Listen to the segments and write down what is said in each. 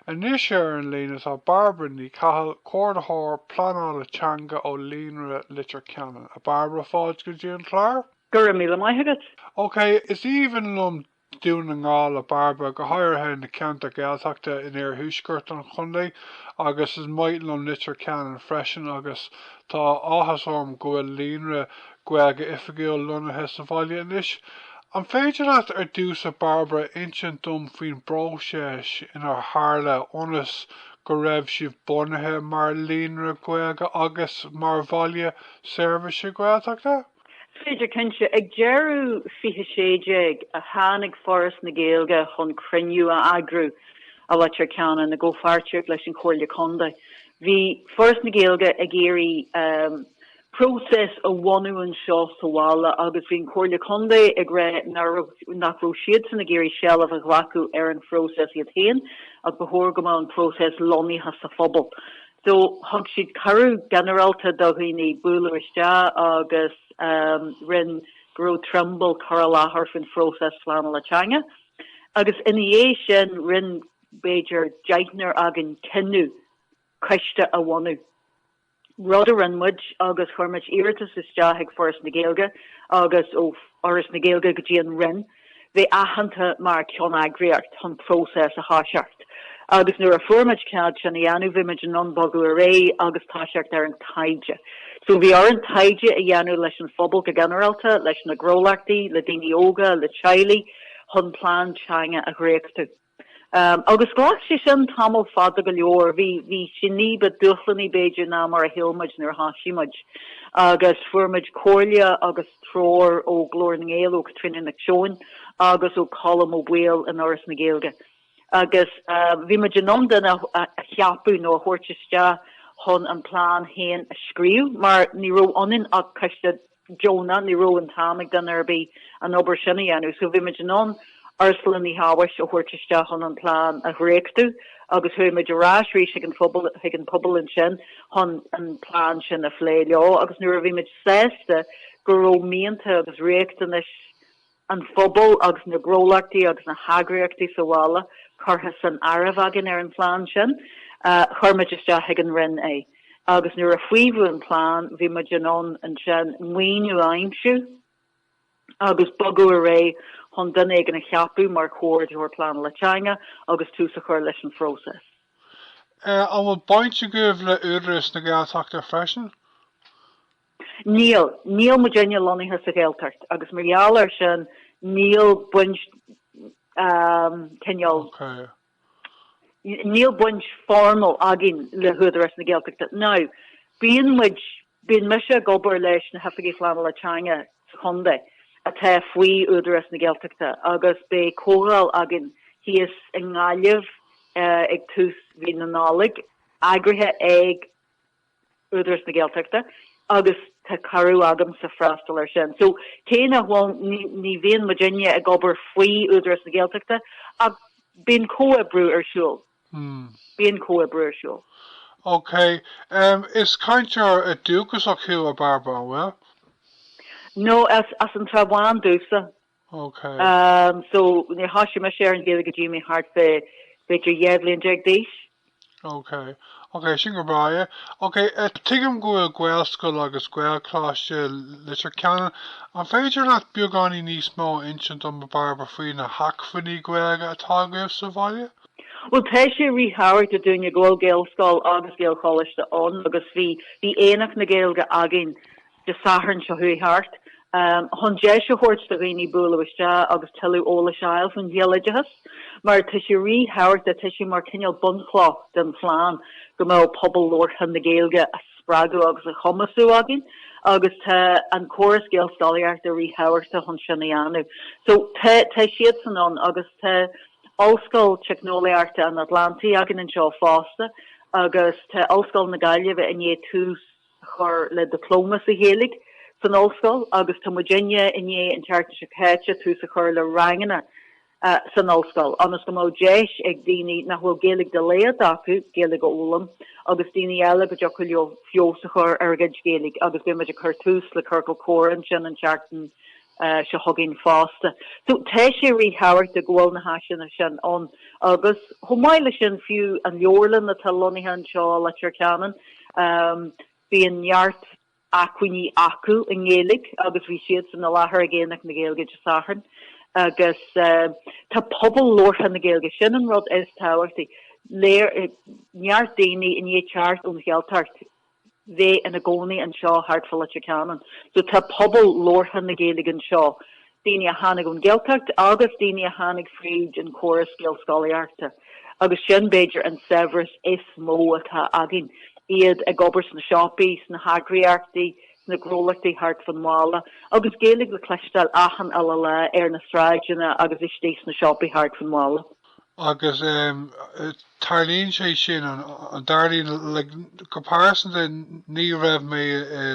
Anois ar an líne tá Bairbre Ní Chathail, Comhordaitheoir Pleanála Teanga ó Líonra Leitir Ceanainn. A Bairbre, fáilte go dtí an clár. Go raibh míle maith agat. Ok, is aoibhinn liom Dún na nGall, a Bairbre, go háirithe na ceantair Gaeltachta in iarthuaisceart an chontae agus is maith liom Leitir Ceanainn freisin agus tá áthas orm go bhfuil Líonra Gaeilge oifigiúil lonnaithe sa bhaile anois. An féidir leat ar dtús, a Bairbre, insint dom faoin bpróiseas inar tharla ionas go raibh sibh bunaithe mar Líonra Gaeilge agus mar Bhaile Seirbhíse Gaeltachta? Is féidir, cinnte. Ag deireadh 2016 a tháinig Foras na Gaeilge chun cruinniú a eagrú i Leitir Ceanainn i gcomhpháirtíocht leis an Chomhairle Contae. Bhí Foras na Gaeilge ag iarraidh próiseas a bhunú anseo sa bhaile agus bhí an Chomhairle Contae ag rá nach raibh siadsan ag iarraidh seilbh a ghlacadh ar an phróiseas iad féin ach ba chóir go mbeadh an próiseas lonnaithe sa phobal. So thug siad cuireadh ginearálta do dhaoine bualadh isteach agus rinne Gearóid Trimble cur i láthair faoin phróiseas pleanála teanga agus ina dhiaidh sin rinne b'fhéidir deichniúr againn cinneadh coiste a bhunú. rud a rinne muid agus chuir muid iarratas isteach ag Foras na Gaeilge agus ó Fhoras na Gaeilge go dtí an Roinn bheith aitheanta mar cheanneagraíocht chun próiseas a thoiseacht agus nuair a fuair muid cead sin a dhéanamh bhí muid in ann bogadh ar aghaidh agus toiseacht ar an taighde. So bhí orainn taighde a dhéanamh leis an phobal go ginearálta, leis na gnólachtaí, le daoine óga, le teaghlaigh chun plean teanga a dhréachtadh. Agus ghlac sé sin tamall fada go leor. Bhí, bhí sé ní ba dúshlanaí, b'fhéidir, ná mar a shíl muid nuair a thoisigh muid. Agus fuair muid comhairle agus treoir ó Glór na nGael, ó Caitríona Nic Seoin agus ó Colm Ó Baoill in Fhoras na Gaeilge. Agus bhí muid in ann duine a cheapadh nó a thabhairt isteach chun an plean féin a scríobh, mar ní raibh ionainn ach coiste deonach. Ní raibh an t-am ag duine ar bith an obair sin a dhéanamh so bhí muid in ann Ursula Ní Shabhaois a thabhairt isteach chun an plean a dhréachtadh agus chuaigh muid ar ais arís chuig an phobal ansin chun an plean sin a phlé leo agus nuair a bhí muid sásta go raibh mianta agus riachtanais an phobail agus na gnólachtaí agus na heagraíochtaí sa bhaile curtha san áireamh againn ar an phlean sin, chuir muid isteach chuig an Roinn é agus nuair a faomhadh an plean bhí muid in ann ansin maoiniú a aimsiú agus bogadh ar aghaidh chun duine éigin a cheapadh mar Chomhordaitheoir Pleanála Teanga agus tús a chur leis an phróiseas. An bhfuil baint agaibh le Údarás na Gaeltachta freisin? Níl, níl muidinne lonnaithe sa Ghaeltart agus mar gheall air sin níl baint cineál, níl baint formal againn le hÚdarás na Gaeltachta. Now bíonn muid, bíonn mise ag obair leis na hOifigigh Phleanála Teanga sa chontae atá faoi Údarás na Gaeltachta agus beidh comhdháil againn thíos i nGaillimh ag tús mhí na Nollag, eagraithe ag Údarás na Gaeltachta agus tá cuireadh agamsa freastal ar sin. So cé nach bhfuil ní bhíonn muidinne ag obair faoi Údarás na Gaeltachta ach bíonn comhoibriú ar siúl. Hmm. Bíonn comhoibriú ar siúl. Ok, um, is cainteoir dúchasach thú a Bhairbre, an bhfuil? No, as as an Srath Bán domhsa. Ok. Umm so níor thoisigh mise ar an Ghaeilge go dtí mé thart fá b'fhéidir dhá bhliain déag d'aois. Ok. Ok sin go breá. Ok eh tuigim go bhfuil Gaelscoil agus Gaelcholáiste i Leitir Ceanainn. An féidir leat beagáinín níos mó a insint dom a Bhairbre faoi na hacmhainní Gaeilge atá agaibh sa bhaile? Bhuel tá sé ríthábhachtach dúinne go bhfuil Gaelscoil agus Gaelcholáiste ann agus bhí bhí Aonach na Gaeilge againn Dé Sathairn seo chuaigh thart, chun deis a thabhairt do dhaoine bualadh isteach agus tuilleadh eolais a fháil faoin ghaeloideachas, mar tá sé ríthábhachtach, tá sé mar cineál bunchloch den phlean go mbeadh pobal labhartha na Gaeilge a spreagadh agus a chumasú againn agus tá an córas gaelscolaíochta ríthábhachtach chun sin a dhéanamh. So tá siadsan ann agus tá Ollscoil Teicneolaíochta an Atlantaigh againn anseo fosta agus tá Ollscoil na Gaillimhe i ndiaidh tús, a chur le dioplóma sa Ghaeilge san ollscoil agus tá muidinne i ndiaidh an tseachtain seo caite, tús a chur le ranganna san ollscoil ionas go mbeadh deis ag daoine nach bhfuil Gaeilge de laghad acu Gaeilge a fhoghlaim agus daoine eile go dtiocfadh leo feabhas a chur ar a gcuid Gaeilge agus beidh muid ag cur tús le ciorcal comhrá ansin an tseachtain seo chugainn fosta. So tá sé ríthábhachtach go bhfuil na háiseanna sin ann agus chomh maith leis sin fiú an leabharlann atá lonnaithe anseo i Leitir Ceanainn, bíonn neart acmhainní acu i nGaeilge agus bhí siadsan i láthair ag Aonach na Gaeilge Dé Sathairn agus tá pobal labhartha na Gaeilge, sin an rud is tábhachtaí, neart daoine i ndiaidh teacht ón Ghaeltacht. bheith ina gcónaí anseo thart fá Leitir Ceanainn. So tá pobal labhartha na Gaeilge anseo, daoine a tháinig ón Ghaeltacht agus daoine a tháinig fríd an córas Gaelscolaíochta agus sin, b'fhéidir, an saibhreas is mó atá againn, iad ag obair sna siopaí, sna heagraíochtaí, sna gnólachtaí thart fán bhaile agus Gaeilge le cloisteáil achan uile lá ar na sráideanna agus istigh sna siopaí thart fán bhaile. agus tarlaíonn sé sin, dar liom, go pearsanta ní raibh mé i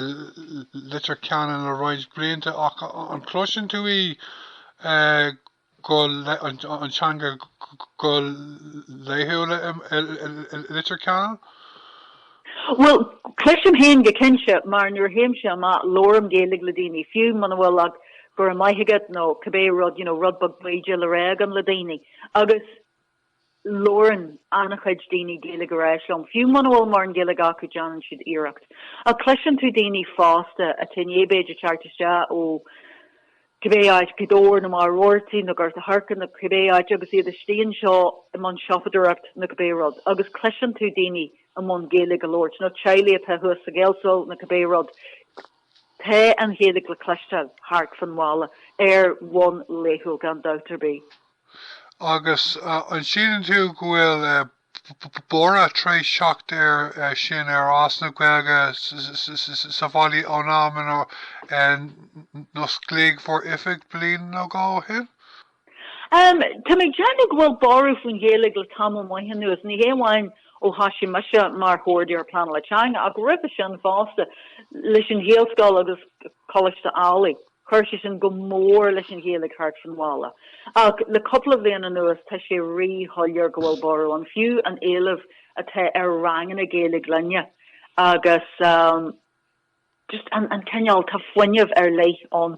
Leitir Ceanainn le roinnt blianta ach an gcloiseann tú í go, an teanga go laethúil i Leitir Ceanainn? Bhuel, cloisim féin go cinnte, mar nuair a théimse amach, labhraím Gaeilge le daoine, fiú muna bhfuil ach go raibh maith agat nó cibé rud, you know, rud beag bídeach le rá agam le daoine. Agus labhrann an-chuid daoine Gaeilge ar ais liom, fiú muna bhfuil mórán Gaeilge acu, déanann siad iarracht. Ach cloiseann tú daoine fásta atá b'fhéidir ag teacht isteach ó cibé áit, Gaoth Dobhair, nó Machaire Rabhartaigh, nó Gort an Choirce, nó cibé áit, agus iad istigh anseo i mbun siopadóireacht nó cibé rud, agus cloiseann tú daoine i mbun Gaeilge a labhairt, nó teaghlaigh atá thuas sa Ghaelscoil nó cibé rud, tá an Ghaeilge le cloisteáil thart fán bhaile ar bhonn laethúil gan dabht ar bith. Agus an síleann tú go bhfuil borradh tar éis teacht air sin ar fhás na Gaeilge sa bhaile ón am inar osclaíodh bhur oifig bliain nó dhó ó shin? Tá mé ag déanamh go bhfuil borradh faoin Ghaeilge le tamall maith anuas, ní hé amháin ó thoisigh mise mar Chomhordaitheoir Pleanála Teanga ach roimhe sin fosta leis an Ghaelscoil agus Coláiste Ailigh. Chuir sé sin go mór leis an Ghaeilge thart fán bhaile, ach le cúpla bliain anuas tá sé rí-shoiléir go bhfuil borradh ann, fiú an éileamh atá ar ranganna Gaeilge againne agus just an cineál, tá fuinneamh ar leith ann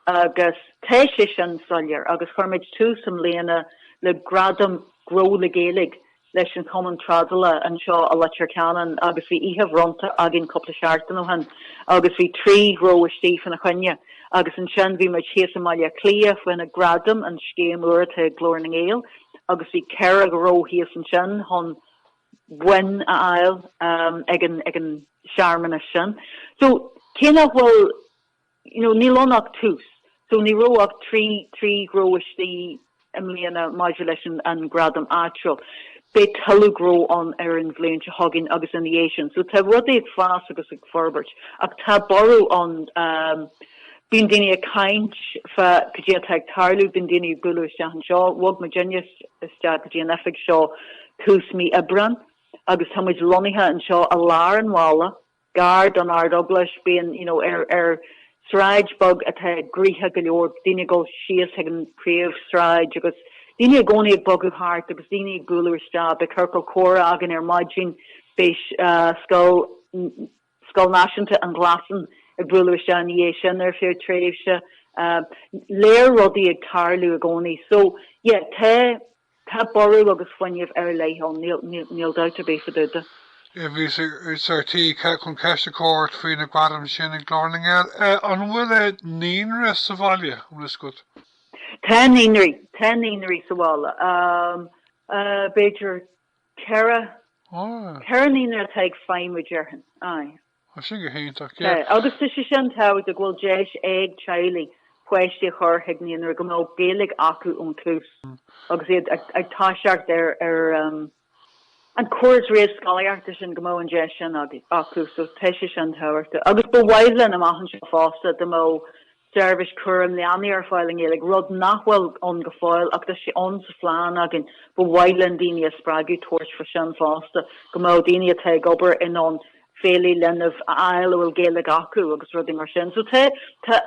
agus tá sé sin soiléir agus chuir muid tús i mbliana le gradam Gnó le Gaeilge leis an Chumann Trádála anseo i Leitir Ceanainn agus bhí oíche bhronnta againn cúpla seachtain ó shin agus bhí trí ghnó istigh faoina choinne agus ansin bhí muid thíos i mBaile Átha Cliath, fá choinne Gradaim, an scéim úr atá ag Glór na nGael agus bhí ceithre ghnó thíos ansin chun boinn a fháil ag an searmanas sin. So, cé nach bhfuil. nó níl ann ach tús. So ní raibh ach trí, trí ghnó istigh i mbliana maidir leis an, an Gradam áitiúil. Beidh tuilleadh gnó ann ar an bhliain seo chugainn agus ina dhiaidh sin. So tá rudaí ag fás agus ag forbairt. Ach tá borradh ann, ehm, bíonn daoine ag caint fá caidé atá ag tarlú, bíonn daoine ag bualadh isteach anseo. Bhog muid aníos, isteach go dtí an oifig seo tús mí Aibreán agus tá muid lonnaithe anseo i lár an bhaile. gar don Ardeaglais, bíonn, you know, ar, ar sráid beag atá gnoitheach go leor, daoine ag dul síos chuig an príomhshráid agus daoine i gcónaí ag bogadh thart agus daoine ag bualadh isteach, beidh ciorcal comhrá againn ar maidin, beidh eh, scoil, Scoil Náisiúnta an Ghlasáin ag bualadh isteach ina dhiaidh sin ar feadh tréimhse, eh, léir rudaí ag tarlú i gcónaí. So, yeah, tá, Tá borradh agus fuinneamh ar leith ann, níl dabht ar bith faoi dtaobh de. Bhíos ar tí ceist a chur ort faoi na gradaim sin ag Glór na nGael, an bhfuil naíonra sa bhaile, an bhfuil fhios agat? Tá naíonraí, tá naíonraí sa bhaile. B'fhéidir ceithre, ceithre naíonra atá ag feidhmiú, déarfainn, aye. Tá sin go hiontach, yeah. Tá, agus tá sé sin tábhachtach, go bhfuil deis ag teaghlaigh páistí a chur chuig naíonra go mbeadh Gaeilge acu ón tús agus iad ag ag toiseacht ar ar an córas réamhscolaíochta sin go mbeadh an deis sin acu so tá sé sin tábhachtach. Agus ba mhaith linn amach anseo fosta go mbeadh seirbhís cúraim leanaí ar fáil i nGaeilge, rud nach bhfuil ann go fóill, ach tá sé ann sa phlean againn, ba mhaith linn daoine a spreagadh tabhairt faoi sin fosta, go mbeadh daoine atá ag obair in ann feighlí leanbh a fháil a bhfuil Gaeilge acu agus rudaí mar sin. So tá, tá,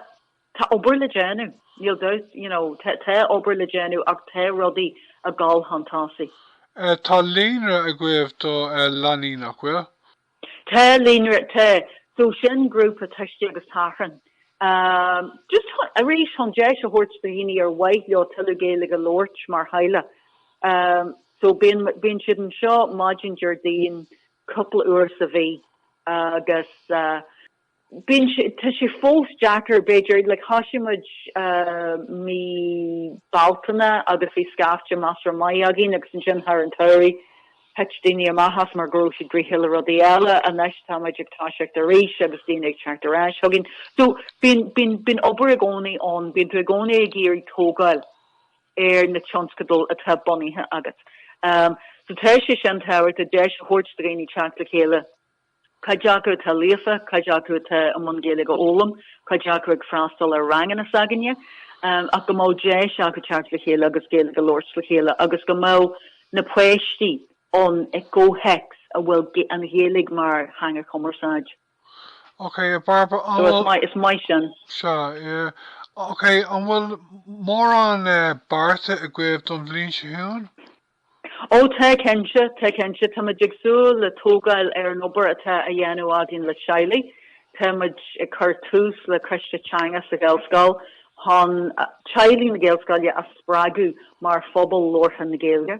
tá obair le déanamh, níl dabht, you know, tá, tá obair le déanamh ach tá rudaí ag dul chun tosaigh. Tá líonra agaibh do leanaí, nach bhfuil? Tá líonra, tá. So sin grúpa tuistí agus tachrán. Just arís, chun deis a thabhairt do dhaoine ar mhaith leo tuilleadh Gaeilge a labhairt mar theaghlach. So bíonn, bíonn siad anseo maidin Déardaoin cúpla uair sa mhí agus. bíonn sé, tá sé fós deacair, b'fhéidir, like thosaigh muid mí Bealtaine agus bhí scaifte measartha maith againn agus ansin thar an tsamhradh thit daoine amach as mar go raibh siad gnóthach le rudaí eile, anois tá muid ag toiseacht arís agus daoine ag teacht ar ais chugainn. So bíonn, bíonn, bíonn obair i gcónaí ann, bíonn tú i gcónaí ag iarraidh tógáil ar na tionscadail atá bunaithe agat. So tá sé sin tábhachtach deis a thabhairt do dhaoine teacht le chéile, cuid acu atá líofa, cuid acu atá i mbun Gaeilge a fhoghlaim, cuid acu ag freastal ar ranganna s'againne, ach go mbeadh deis acu teacht le chéile agus Gaeilge a labhairt le chéile agus go mbeadh na páistí ann i gcomhthéacs a bhfuil an Ghaeilge mar theanga chumarsáid. Ok, a Bhairbre. So, is maith sin. Sea, yeah. Ok, an bhfuil mórán beartaithe agaibh don bhliain seo chugainn? Ó, tá cinnte, tá cinnte. Tá muid ag súil le tógáil ar an obair atá á dhéanamh againn le teaghlaigh. Tá muid ag cur tús le coiste teanga sa Ghaelscoil chun teaghlaigh na Gaelscoile a spreagadh mar phobal labhartha na Gaeilge.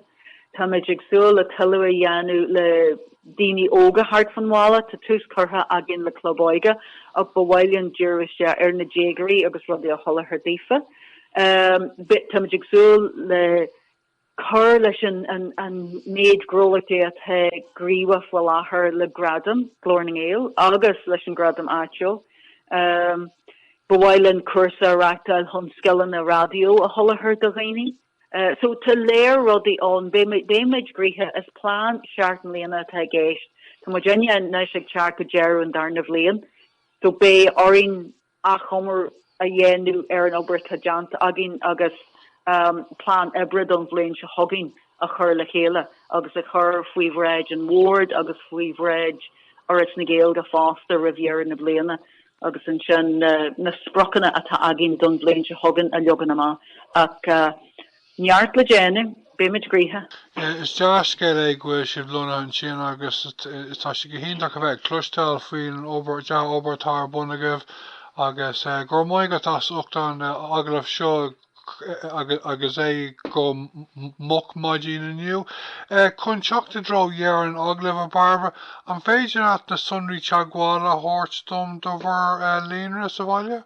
Tá muid ag súil le tuilleadh a dhéanamh le daoine óga thart fán bhaile. Tá tús curtha againn le club óige ach ba mhaith linn díriú isteach ar na déagóirí agus rudaí a sholáthar daofa. Tá muid ag súil le. cur leis an méid gnólachtaí atá gníomhach faoi láthair le Gradam Ghlór na nGael agus leis an Gradam áitiúil. Ba mhaith linn cúrsa a reachtáil chun scileanna raidió a sholáthar do dhaoine. So tá lear rudaí ann. Beidh muid gnoitheach. Is plean seacht mbliana atá i gceist. Tá muid anois ag teacht go deireadh an darna bhliain. So beidh orainn. achoimre a dhéanamh ar an obair atá déanta againn agus plean oibre don bhliain seo chugainn a chur le chéile agus a chur faoi bhráid an bhoird agus faoi bhráid Fhoras na Gaeilge fosta roimh dheireadh na bliana agus ansin na spriocanna atá againn don bhliain seo chugainn a leagan amach. Neart le déanamh, beidh muid gnoitheach. Is dea-scéal é go bhfuil sibh lonnaithe ansin agus tá sé go hiontach a bheith ag cloisteáil faoin dea-obair atá ar bun agaibh agus go raibh maith agat as ucht an agallaimh seo agus é go moch maidin inniu. Chun teacht i dtreo dheireadh an agallaimh, a Barbara, an féidir leat na sonraí teagmhála a thabhairt dom do bhur líonra sa bhaile?